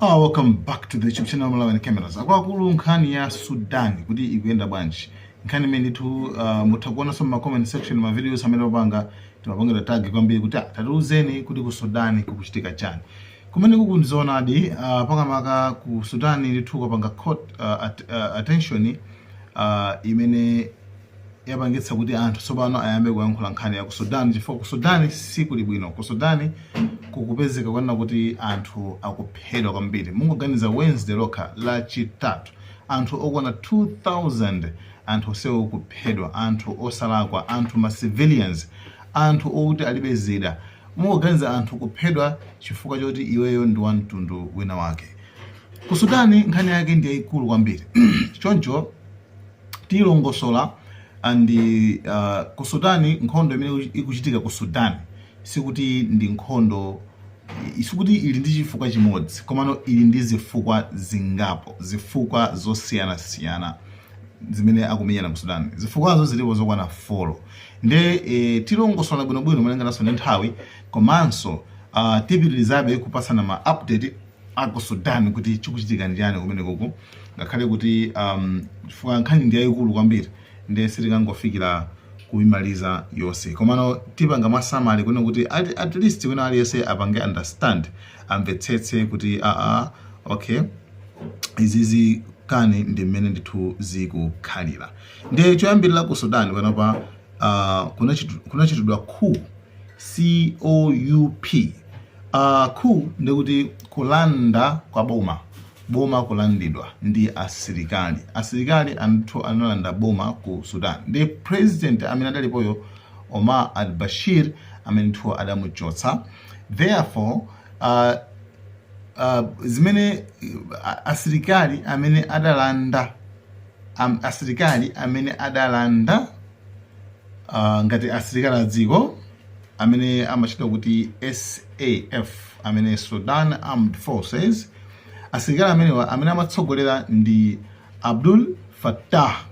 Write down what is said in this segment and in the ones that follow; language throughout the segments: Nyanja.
Oh, welcome back to the YouTube channel Malawian Cameras. Akuluakulu nkhani ya Sudan kuti ikuyenda bwanji. Nkhani imene ndithu uh, mutha kuonanso ma comment section ma videos amene opanga timapangira tag kwambiri kuti ah, tatiuzeni kuti ku Sudan kukuchitika chani. Kumene kuku ndizoonadi uh, pakamaka ku Sudan ndithu kwapanga caught uh, at, uh, attention uh, imene yapangitsa kuti anthu tsopano ayambe kuyankhula nkhani ya ku Sudan chifukwa ku Sudan sikuli bwino. Ku Sudan kukupezeka kwanena kuti anthu akuphedwa kwambiri. Mungoganiza Wednesday lokha, Lachitatu, anthu okwana 2,000 anthu onsewo kuphedwa, anthu osalakwa, anthu ma civilians, anthu okuti alibe zida. Mungoganiza anthu kuphedwa chifukwa choti iweyo ndi wa mtundu wina wake. Ku Sudan nkhani yake ndi yayikulu kwambiri choncho tilongosola and ku Sudan nkhondo imene ikuchitika ku Sudan sikuti ndi nkhondo sikuti ili ndi chifukwa chimodzi komano ili ndi zifukwa zingapo zifukwa zosiyanasiyana zimene akumenyana ku Sudan zifukwazo zilipo zokwana folo nde e, tilongosola bwinobwino malingananso ndi nthawi komanso uh, tipitirizabe kupasana ma update a ku Sudan kuti chikuchitika ndi chani kumenekuku, ngakhale kuti um, chifukwa nkhani ndi yayikulu kwambiri ndiye sitikangofikira kuimaliza yonse, komano tipanga mwa summary kuno kuti at, at least wina aliyense apange understand, amvetsetse kuti a a okay izizi kani ndi mmene ndithu zikukhalira. Ndiye choyambirira ku Sudan panopa uh, kunachitidwa coup COUP uh, coup ndi kuti kulanda kwa boma boma kulandidwa ndi asilikali asilikali ndithu analanda boma ku sudan ndi president amene adalipoyo omar al bashir amene ndithu adamuchotsa therefore uh, uh, zimene uh, asilikali amene adalanda um, asilikali amene adalanda uh, ngati asilikali a dziko amene amachita kuti SAF amene Sudan Armed Forces asilikali amenewa amene amatsogolera ndi Abdul Fattah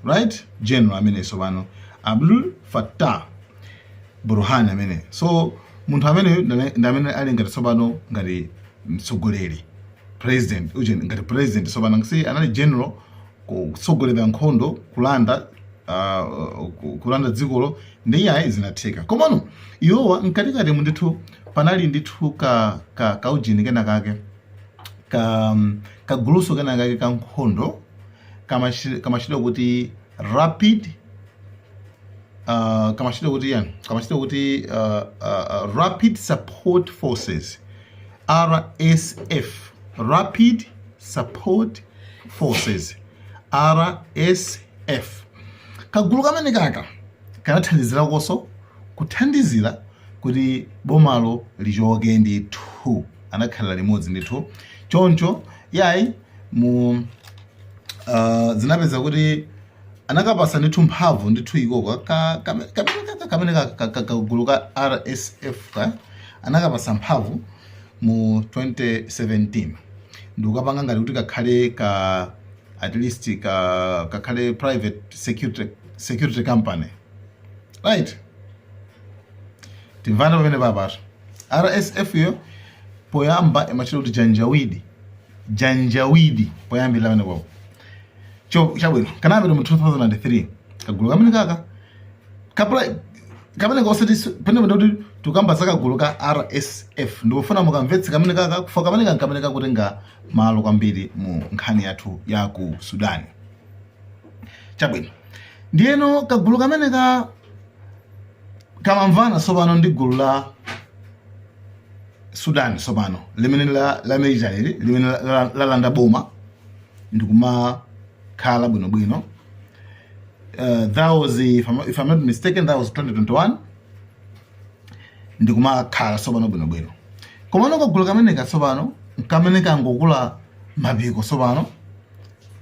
right general ameneyu sopano Abdul Fattah Burhan ameneyu so munthu ameneyo ndi amene ali ngati sopano ngati mtsogoleri president uje ngati president sopano si anali general kutsogolera nkhondo kulanda uh, ku- kulanda dzikolo ndi iyayi zinatheka komano iwowa mkatikati mu ndithu panali ndithu ka, ka, ka ujini kena kake ka, ka guluso kena kake ka nkhondo kamashi- kamatchedwa kuti rapid uh, kamatchedwa kuti chani kamatchedwa kuti uh, uh, uh, rapid support forces rsf rapid support forces rsf kagulu kamene kaka kanathandizirakonso kuthandizira kuti bomalo lichoke ndithu anakhalira limodzi ndithu choncho yayi mu uh, zinapeza kuti anakapasa ndithu mphamvu ndithu ikoka ka- kame- kamene kaka- kamene ka- ka- ka- kagulu ka rsf ka anakapasa mphamvu mu 2017 ndikukapanga ngati kuti kakhale ka at least ka kakhale private security security company right tikumvana pamene papatu rsf yo poyamba imatchedwa kuti janjawidi janjawidi poyambira pamene papo chabwino kanapita mu 2003 kagulu kamene kaka kamene kapena ngosati pene pene kuti tikamba za kagulu ka RSF ndikufuna mukamvetse kamene kakakufa kamene kankamene kakutenga malo kwambiri mu nkhani yathu ya ku Sudan chabwino ndiyeno kagulu kamene ka kamamvana tsopano ndi gulu la Sudan tsopano limene la la military limene la- la- lalanda boma ndikumakhala bwinobwino uh, that was if I'm, if I'm not mistaken that was 2021 ndikumakhala tsopano bwinobwino komano kagulu kameneka tsopano kamene kangokula mapiko tsopano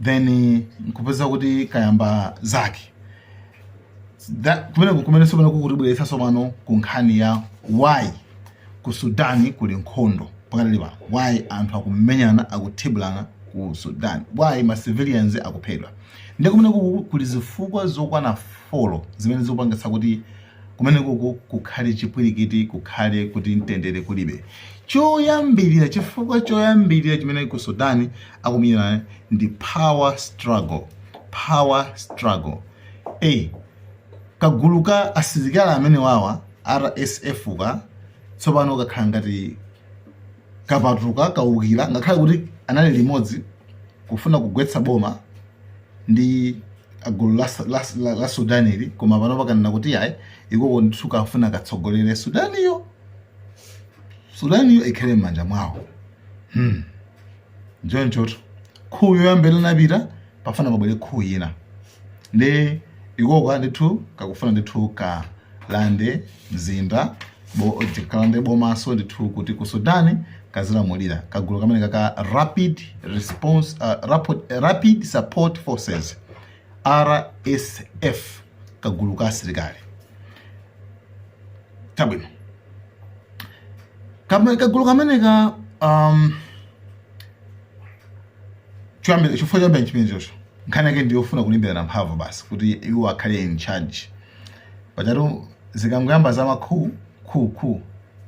then nkupeza kuti kayamba zake kumene kumene tsopano kukutibweretsa tsopano ku nkhani ya why ku sudani kuli nkhondo pakati pa why anthu akumenyana akuthibulana ku sudani why ma civilians akuphedwa Ndiye kumenekuku kuli zifukwa zokwana folo zimene zikupangitsa kuti kumenekuku kukhale chipwirikiti, kukhale kuti mtendere kulibe. Choyambirira, chifukwa choyambirira chimene ku Sudan akumenyana ndi power struggle, power struggle. Eyi, kagulu ka asilikali amenewawa, RSF-ka, tsopano kakhala ngati kapatuka kaukira ngakhale kuti anali limodzi kufuna kugwetsa boma ndi gulu la, la, la, la sudanili koma pano pakanena kuti ayi ikoko ndithu kafuna katsogolere sudaniyo sudaniyo ikhale m'manja mwawo hmm. nchonchotu coup yoyambirira inapita akufuna pabwere coup ina nde ikoko ndithu kakufuna ndithu ka lande mzinda bo- kalande bomaso ndithu kuti ku sudan kazilamulira kagulu kameneka ka rapid response uh, rapid, rapid support forces rsf kagulu ka asilikali chabwino Kame- kagulu kameneka um, choyambira chifukwa choyambira chimenechocho nkhani yake ndiyofuna kulimbirana mphamvu basi kuti iwo akhale in charge Pajatu zikangoyamba za ma coup coup coup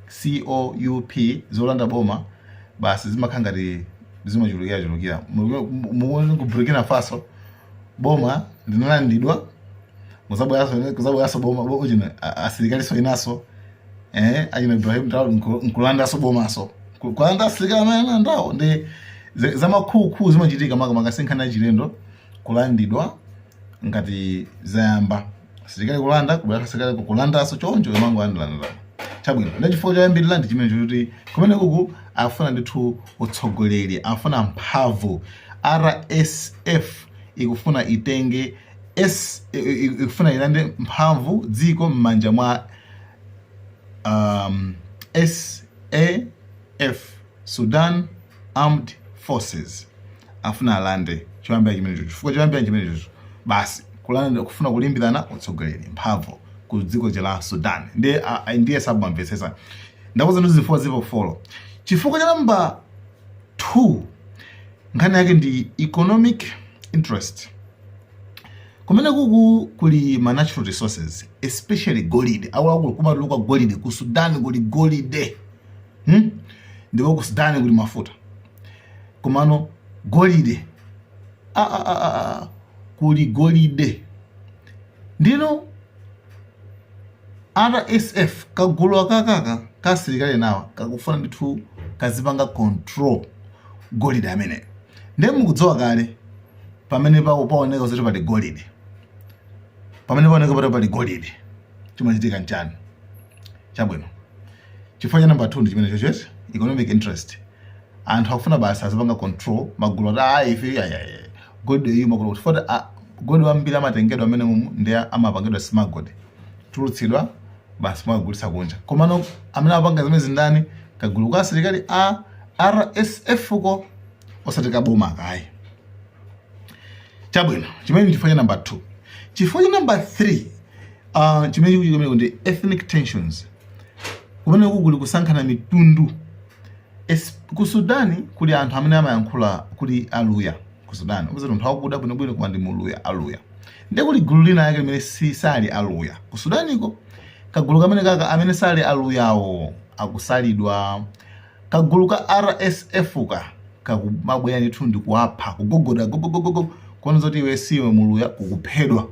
COUP zolanda boma basi zimakhala ngati zimachulukira chulukira. Mulibe- mu- Mukuona ku Burkina Faso boma linalandidwa kuzabweranso kuzabweranso boma bo- chino a- asirikalinso inaso eh achina Ibrahim Traore nku- nkulandanso bomanso Ku- kulanda asilikali amene analandawo nde za- za ma coup coup zimachitika makamaka sinkhani yachilendo kulandidwa ngati zayamba asilikali kulanda kubwera asilikali kulandaso choncho kumangolandanalandana chabwino nde chifukwa choyambirira ndi chimenecho choti kumene kuku afuna ndithu utsogoleri afuna mphamvu rsf ikufuna itenge s i- i- ikufuna ilande mphamvu dziko m'manja mwa um, saf Sudan Armed Forces afuna alande choyambira chimenecho, chifukwa choyambira chimenecho basi kulanda kufuna kulimbirana utsogoleri mphamvu ku dziko la Sudan ndiye ndiye sabamvetsetsa ndakuuzani zifukwa zipo folo chifukwa cha namba 2 nkhani yake ndi economic interest kumene kuku kuli ma natural resources especially golide akuluakulu kumatuluka golide ku Sudan kuli golide hmm? ndipo ku sudani kuli mafuta komano golide ah, ah, ah, ah, ah. kuli golide ndiyeno rsf kagulu akakaka ka asilikali enawa kakufuna ndithu kazipanga control golide ameneyi nde mukudziwa kale pamene pao- paoneka zoti pali golide pamene paoneka pati pali golide chimachitika nchani chabwino Chifukwa cha number 2 ndi chimenechochi economic interest. Anthu akufuna basi azipanga control magulu ati ah ife ya ya ya. Golide uyu magulu kuti fota ah, golide wambiri amatengedwa amene mumu ndi amapangidwa smuggled. Tulutsidwa basi mwagulitsa kunja. Komano amene apanga zimenezi ndani kagulu ka asilikali a RSF ko osati kaboma ka ayi. Chabwino, chimenecho chifukwa cha number 2. Chifukwa cha number 3 uh, chimene chikuchikomera ndi ethnic tensions. Kumene kuli kusankhana mitundu ku Sudani kuli anthu amene amayankhula kuli aluya ku Sudani kupeza munthu wakuda bwinobwino koma ndi muluya aluya ndi kuli gulu linalake limene sali aluya ku Sudaniko kagulu kamenekaka amene sali aluyawo akusalidwa kagulu ka RSF ka kakumabwera ndithu ndi kuwapha kugogoda gogogogogo kuona zoti iwe si iwe muluya kukuphedwa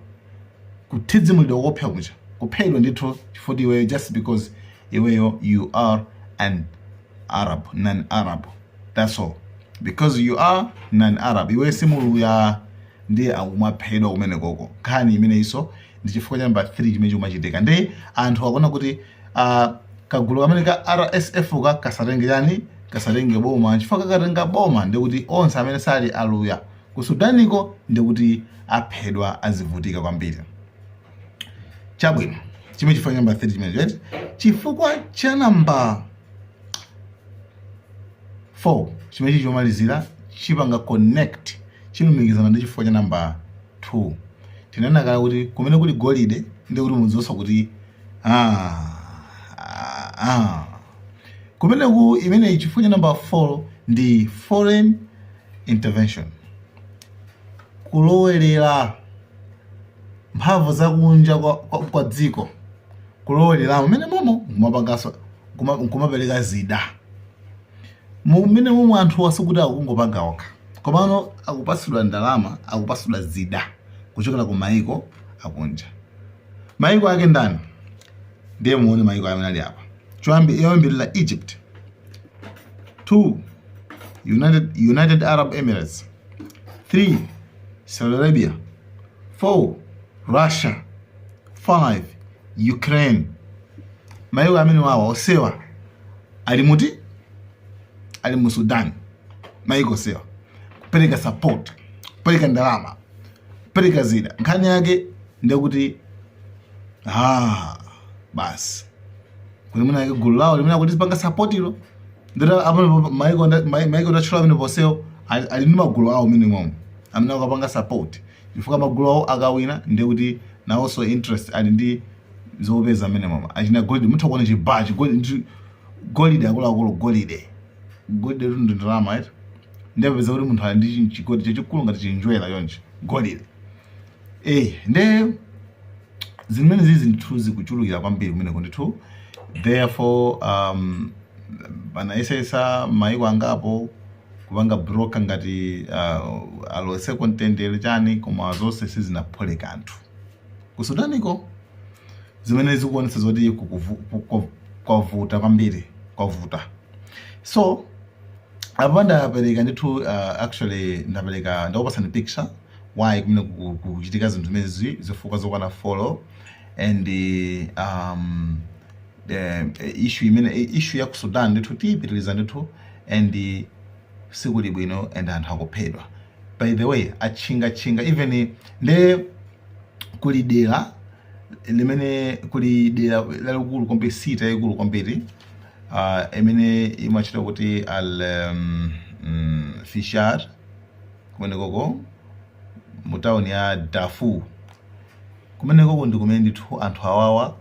kuthidzimulidwa koopsa kuja, kuphedwa ndithu chifukwa choti iweyo just because iweyo you are an Arab, non Arab that's all because you are non Arab iweyo si Muluya ndiye akumaphedwa kumenekoko nkhani imeneyinso ndi chifukwa cha number 3 chimene chikumachitika ndiye anthu akuona kuti ah, kagulu kameneka ka RSF ka kasatenge chani kasatenge boma chifukwa kakatenga boma ndiye kuti onse amene sali aluya Ku Sudaniko ndiye kuti aphedwa azivutika kwambiri. Chabwino, chimenecho chifukwa cha namba 3 chimenecho eti chifukwa cha namba 4 chimenechi chomalizira chipanga connect chikulumikizana ndi chifukwa cha namba 2 tinena kale kuti kumeneku kuli golide ndi kuti mudziwonso kuti ah, ah, ah. Kumeneku imeneyi chifukwa cha namba 4 ndi foreign intervention, kulowerera mphamvu zakunja kwa, kwa, kwa dziko kulowereramo mmenemomo kumapanganso kumapereka zida mmenemomo anthuwa sikuti akungopanga okha komano akupatsidwa ndalama akupatsidwa zida kuchokera ku maiko akunja maiko ake ndani ndiye muone mayiko amene ali apa choyambi yoyambirira egypt 2 united, united arab emirates 3 saudi arabia 4 russia 5 ukraine mayiko amenewawa onsewa ali muti ali mu sudan mayiko onsewa kupereka support kupereka ndalama pereka zida nkhani yake ndi kuti ah, basi kuti mwina yake gulu lawo limene akuti zipanga sapotilo ndira amene maiko nda- mai- maiko ndatchula amene onsewo ali ali ndi magulu awo mmenemomo amene akupanga support chifukwa magulu awo akawina ndiye kuti nawonso interest ali ndi zopeza mmenemomo achina golide mutha kuona chibaa chigolide golide akuluakulu golide Golidetu ndi ndalama eti. Nde upeza kuti munthu ali ndi chi- chigolide chachikulu ngati chinjerwa chonchi. Golide. Eh, nde zimenezizi ndithu zikuchulukira kwambiri kumeneko ndithu. Therefore um anayesetsa maiko angapo kupanga broker ngati uh, alowetseko mtendere chani koma zonse sizinaphule kanthu. Ku Sudaniko, zimene zikuonetsa zoti kwavuta kwambiri, kwavuta so apa ndapereka ndithu uh, actually ndapereka ndakupasani picture why kumeneko kukuchitika zinthu zimenezi zifukwa zokwana four and um, the issue imene issue ya ku Sudan ndithu tiyipitiriza ndithu and sikuli bwino and anthu akuphedwa by the way atchinga tchinga even nde kuli dera limene kuli dera lalikulu kwambiri city yaikulu kwambiri uh, imene imatchedwa kuti Al um, mm, Fashir kumenekoko mu town ya Darfur kumenekoko ndi kumene ndithu anthu awawa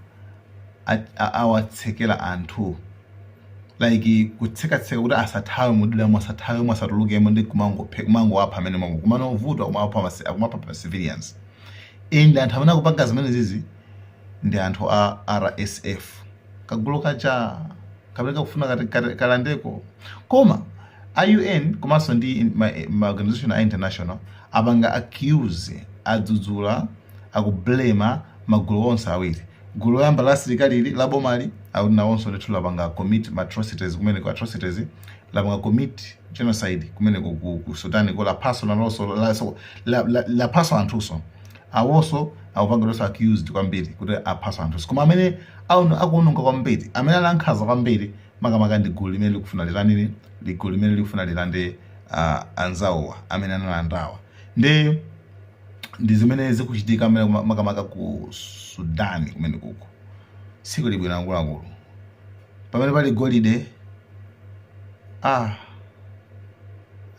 a- a- awatsekera anthu like kutsekatseka kuti asathawe muderamo asathawemo asatulukemo ndi kumangophe kumangowapha mmenemomo komano vuto akumapha masi- akumapha ma civilians and anthu amene akupanga zimenezizi ndi anthu a rsf kagulu kaja kamene kakufuna kati- kati- kalandeko koma a un komanso ndi in- ma, ma organization a international apanga accuse adzudzula aku blame-a magulu onse awiri Gulu loyamba la asilikalili la bomali akuti nawonso ndithu lapanga commit ma atrocities kumeneko, atrocities, lapanga commit genocide kumeneko ku, ku Sudanko laphanso nalonso la- la, la, laphanso anthunso awonso akupangidwanso accused kwambiri kuti aphanso anthunso koma amene akuono- akuononga kwambiri amene ali ankhanza kwambiri makamaka ndi gulu limene likufuna li- ndi gulu limene likufuna lilande uh, anzawowa amene analandawa ndi ndi zimene zikuchitika mmene kuma- makamaka ku Sudan kumenekuko sikuli bwino akuluakulu. Pamene pali golide ah,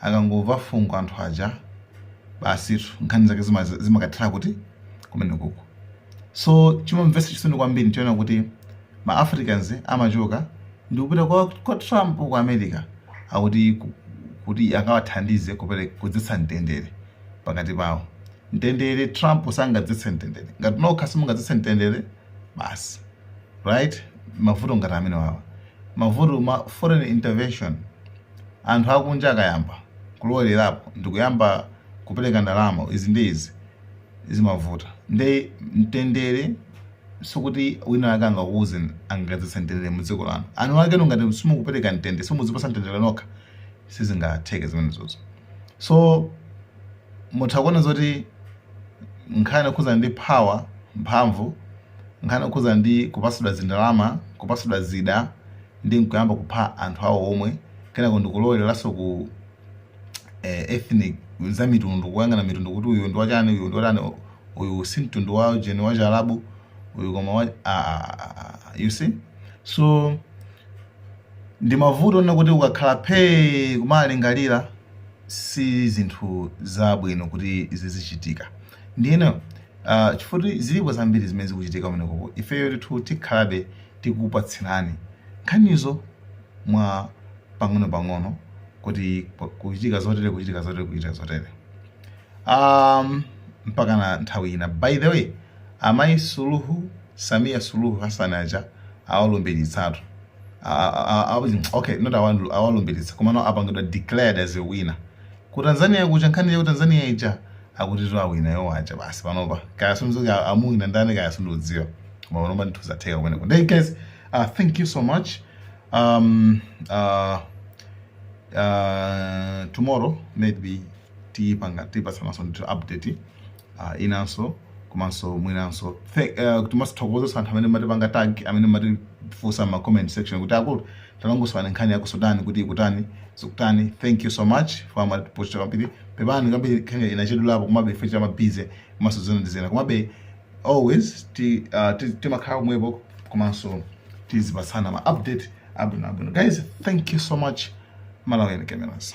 akangomva fungo anthu aja basitu nkhani zake zima- zimakathera kuti kumenekuko. So chimamvetsa chisoni kwambiri ndikaona kuti ma Africans amachoka ndi kupita kwa, kwa Trump ku America akuti ku- kuti akawathandize kupere- kudzetsa mtendere pakati pawo. Mtendere Trump sangadzetse mtendere. Ngati nokha simungadzetse mtendere basi. Right? Mavuto ngati amene wawa. Mavuto ma foreign intervention anthu akunja akayamba kulowelerapo ndikuyamba kupereka ndalama izi ndi izi zimavuta. Nde mtendere sikuti wina wake angakuuze angadzetse mtendere mu dziko lanu. Anu akenu ngati simukupereka mtendere simuzipatsa mtendere nokha sizingatheke zimenezozo. So, mutha kuona zoti nkhani yokhudzana ndi power, mphamvu, nkhani yokhudzana ndi kupatsidwa zindalama, kupatsidwa zida ndi nkuyamba kupha anthu awo omwe, kenako ndikulowereranso ku eh, ethnic za mitundu, kuyang'ana mitundu kuti uyu ndi watani, uyu ndi watani, u- uyu si mtundu wa jeni wa Chiarabu, uyu koma wa ah, ah, ah, ah, you see so Ndimavuto onena kuti ukakhala phee kumalingalira si zinthu za bwino kuti zizichitika ndiyeno uh, chifuti zilipo zambiri zimene zikuchitika kumenekoko ifeyo ndithu tikhalabe tikupatsirani nkhanizo mwa pang'ono pang'ono kuti kuchitika zotere kuchitika zotere kuchitika zotere um, mpaka na nthawi ina by the way amayi suluhu samia suluhu hassan aja awalumbiritsa okay not awalumbiritsa komano apangidwa declared as a winner ku Tanzania kuja nkhani ya Tanzania ija akutitu awina iwowo aja basi panopa kaya zisankho anawina ndani kaya sindidziwa koma panopa ndithu zatheka kumeneko nde guys uh, thank you so much um, uh, uh, tomorrow maybe tipanga tipatsananso ndithu update uh, inanso komanso mwinanso Thank- eh, timazithokoza anthu amene mumatipanga tag amene mumatifunsa mma comment section kuti akulu talongosolani nkhani ya ku Sudan kuti ikutani zikutani thank you so much mumatiposta kwambiri pepani kwambiri nkhaniyi inachedwerapo komabe ife timakhala busy komanso zina ndi zina komabe always ti uh, ti- timakhala kumwepo komanso tizipatsana ma update abwino abwino guys thank you so much malawian cameras